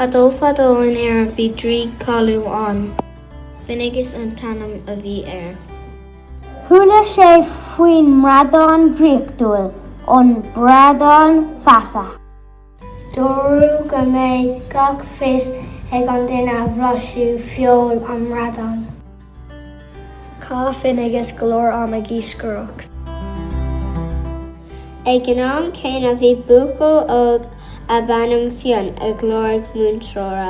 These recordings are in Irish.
Fadó fadó in Éirinn bhí draoi cáiliúil ann. Finnéigeas an t-ainm a bhí air. Chuala sé faoin mbradán draíochtúil, an Bradán Feasa. Dúradh go mbeidh gach fios ag an duine a bhlaisfeadh feoil an mbradáin. Chaith Finnéigeas go leor ama ag iascaireacht. Ag an am céanna bhí buachaill óg darbh ainm Fionn ag lorg múinteora.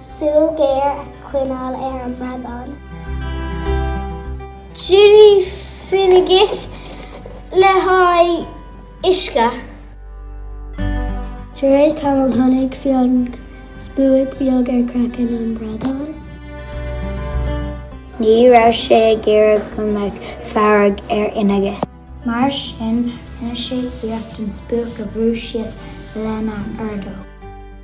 Súil ghéar a choinneáil ar an mbradán. D'imigh Finnéigeas le haghaidh uisce. Tar éis tamaill chonaic Fionn spuaic beag ar craiceann an bhradáin. Ní raibh sé ag iarraidh go mbeadh fearg ar Fhinnéigeas. Mar sin rinne sé iarracht an spuaic a bhrú síos lena ordóg.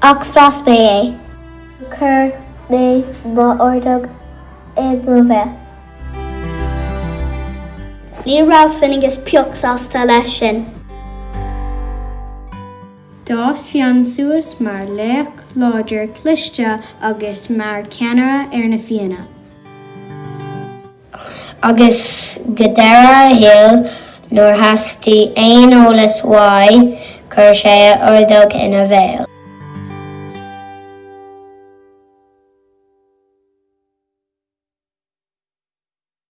Ach bhlais mé é. Chuir mé m'ordóg i mo bhéal. Ní raibh Finnéigeas pioc sásta leis sin. D'fhás Fionn suas mar laoch láidir cliste agus mar cheannaire ar na Fianna. agus go deireadh a shaoil, nuair theastaigh aon eolas uaidh, chuir sé a ordóg ina bhéal.